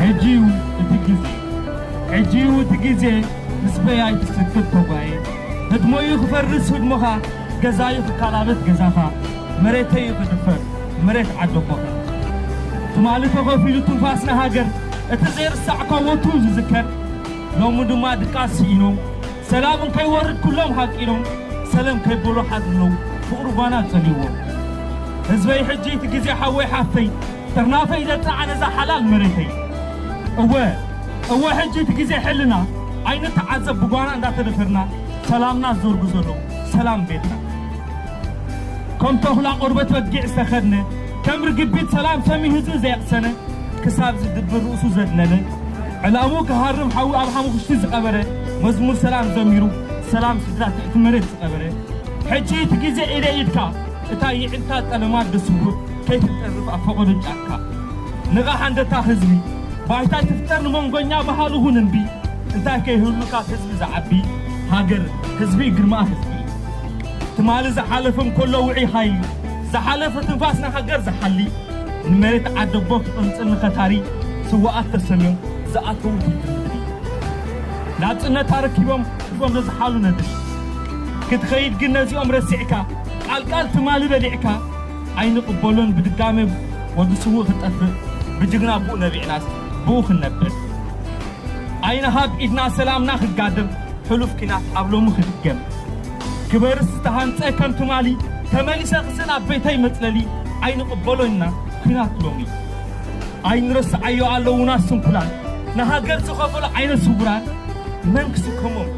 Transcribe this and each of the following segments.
ሕጂዩ እቲ ግዜ ሕጂዩ እቲ ግዜ ምስ በያይ ትስክት ተጓየ ህድሞዩ ክፈርስ ህድሞኻ ገዛዩ ክካላበት ገዛኻ መሬተዩ ክድፈር መሬት ዓደቦኻ ትማሊ ተኸፊሉ ትንፋስ ንሃገር እቲ ዘይርሳዕ ኮወቱ ዝዝከር ሎሚ ድማ ድቃስ ስኢኖም ሰላም እንከይወርድ ኩሎም ሃቂኖም ሰለም ከይበሉ ሓድሕዶም ፍቅሪ ጓና ጸልይዎ ህዝበይ ሕጂ እቲ ግዜ ሓወይ ሓፍተይ ጥርናፈይ ዘጥርዓ ነዛ ሓላል መሬተይ እወ እወ ሕጂ እቲ ግዜ ሕልና ኣይንተዓዘብ ብጓና እንዳተደፈርና ሰላምና ዝዘርጉ ዘለዉ ሰላም ቤትና ከም ተኹላ ቆርበት በጊዕ ዝተኸድነ ከም ርግቢት ሰላም ሰሚ ህዝቢ ዘየቕሰነ ክሳብ ዝድብር ርእሱ ዘድነነ ዕላምኡ ክሃርም ሓዊ ኣብ ሓሙኽሽቲ ዝቀበረ መዝሙር ሰላም ዘሚሩ ሰላም ስድራ ትሕቲ መሬት ዝቀበረ ሕጂ እቲ ግዜ ኢደ ኢድካ እታ ይዒልካ ጠለማ ኣደ ስውእ ከይትጠርፍ ኣብ ፈቀዶ ጫካ ንቓሕ ኣንደታኽ ህዝቢ ባይታ ኣይትፍጠር ንመንጎኛ በሃሉ ኹን እንቢ እንታይ ከይህሉ ካብ ህዝቢ ዝዓቢ ሃገር ህዝቢ እዩ ግርማኣ ህዝቢ እዩ ትማሊ ዝሓለፈም ኮሎ ውዑይ ሃይሊ ዝሓለፈ ትንፋስ ንሃገር ዝሓሊ ንመሬት ዓደቦ ክቕንጽል ንኸታሪ ስዉኣት ተሰምዮም ዝኣተዉ ፊልሚ ንድሊ። ናጽነት ኣረኪቦም ሒቦም ዘዝሓሉ ነድሊ። ክትኸይድ ግን ነዚኦም ረሲዕካ ቃል ቃል ትማሊ በሊዕካ ኣይንቕበሎን ብድጋመ ወዲ ስዉእ ክጠፍእ ብጅግና ኣቡኡ ነቢዕናስ ብኡ ክንነብዕ ኣይንሃብ ኢድና ሰላምና ክጋደም ሕሉፍ ኲናት ኣብ ሎሚ ክድገም ክበርስ ዝተሃንጸ ከም ትማሊ ተመሊሰ ክስእን ኣብ ቤተይ መጽለሊ ኣይንቕበሎን ኢና ኩናት ሎሚ ኣይንረስዓዮ ኣለዉና ስንኩላን ንሃገር ዝኸፈሉ ዓይነ ስውራን መን ክስከሞም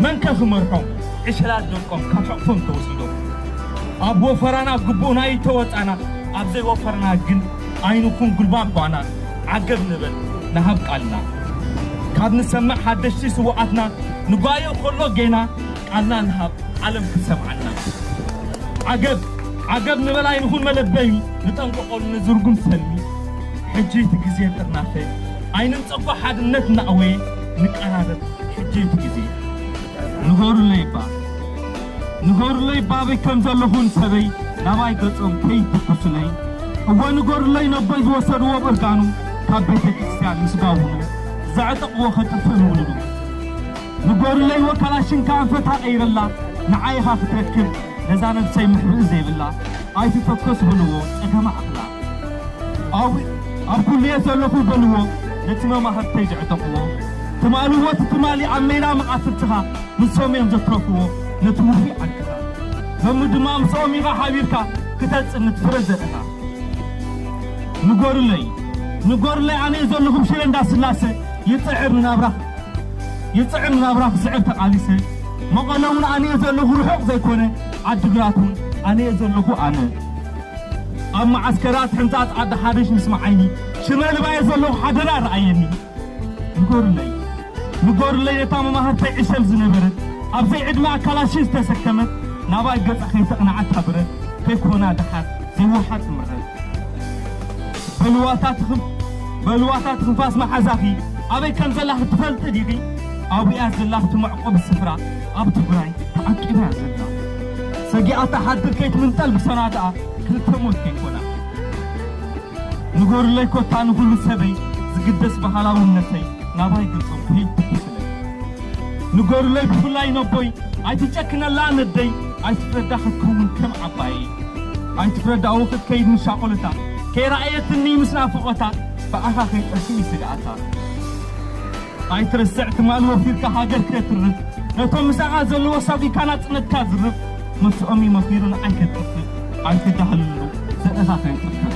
መንከ ክመርሖም ዕሸላት ደቆም ካብ ሕቕፎም ተወሲዶም ኣብ ወፈራና ግቡእና ይተወጻና ኣብ ዘይወፈርና ግን ኣይንኹን ጉልባብ ጓና ዓገብ ንበል ንሃብ ቃልና ካብ ንሰምዕ ሓደሽቲ ስውኣትና ንጓዮ ከሎ ጌና ቃልና ንሃብ ዓለም ክትሰምዓና ዓገብ ዓገብ ንበል ኣይንኹን መለበሚ ንጠንቀቆሉ ንዝርጉም ሰልሚ ሕጂ'ቲ ግዜ ጥርናፈ ኣይንንጸጎ ሓድነት እናእወየ ንቀራረብ ሕጂ'ቲ ግዜ ንበሩለይ'ባ ንበሩለይ'ባ ኣበይ ከም ዘለኹን ሰበይ ናባይ ገጾም ከይትኩሱለይ እወ ንገሩለይ ነቦይ ዝወሰድዎ ብእርጋኑ ካብ ቤተ ክርስትያን ምስ ጋውኑ ዘዕጠቅዎ ከጥፍእ ምውልዱ ንጎርለይ ወካላሽንካ ኣንፈታ ቀይረላ ንዓይ ኢኻ ክትረክብ ነዛ ነብሰይ መሕብኢ ዘይብላ ኣይትተኮስ በልዎ ጸገማ ኣኽላ ኣብ ኣብ ኩሉየ ዘለኹ በልዎ ነቲ መማህርተይ ዘዕጠቕዎ ትማልዎ እቲ ትማሊ ኣብ ሜዳ መቓትልትኻ ንሶም እዮም ዘትረፍዎ ነቲ ውፉይ ዓርክኻ ሎሚ ድማ ምስኦም ኢኻ ሓቢርካ ክተጽንት ፍረ ዘርእኻ ንጎርለይ ንጎርለይ ኣነየ ዘለኹም ሽረ እንዳስላሰ ይጽዕር ንናብራኻ ይጥዕም ናብራ ክስዕር ተቃሊሰ መቐለ ውን ኣነየ ዘለኹ ርሑቕ ዘይኮነ ዓድግራት ውን ኣነየ ዘለኹ ኣነ ኣብ መዓስከራት ሕንጻጽ ዓዲ ሓበሽ ምስ መዓይኒ ሽመልባየ ዘለኹ ሓደራ ረኣየኒ ንገሩለይ ንገሩለይ ነታ መማህርተይ ዕሸል ዝነበረት ኣብ ዘይዕድመኣ ካላሽን ዝተሰከመት ናባይ ገጻ ከይተቕንዓታ ብረት ከይኮና ደሓር ዘይወሓጥ ምረት በልዋታ ትኽም በልዋታ ትንፋስ መሓዛኺ ኣበይ ከም ዘላኺ ትፈልጢ ዲኺ? ኣብኡ'ያ ዘላ ኣብቲ መዕቆቢ ስፍራ ኣብ ትግራይ ተዓቂባ'ያ ዘላ። ሰጊኣታ ሓድር ከይትምንጠል ብሰናትኣ ክልተ ሞት ከይኮና። ንገሩለይ ኮታ ንኹሉ ሰበይ ዝግደስ ባህላውነተይ ናባይ ገጾም ከይትኩስለይ። ንገሩለይ ብፍላይ ነቦይ ኣይትጨክነላ ነደይ ኣይትፍረዳ ክትከውን ከም ዓባየይ። ኣይትፍረዳኡ ክትከይድ ንሻቖለታ ከይረኣየትኒ ምስ ናፍቖታ ብኣኻ ከይጠፍእ እዩ ስግኣታ ኣይትርስዕ ትማል ወፊርካ ሃገር ከትርፍ ነቶም ምሳኻ ዘለዎ ሳጒካ ናጽነትካ ዝርፍ ምስኦም እዩ መኺሩ ንዓይ ከትጥፍእ ኣይትዳህልሉ ዘርእኻ ከይጥፍእ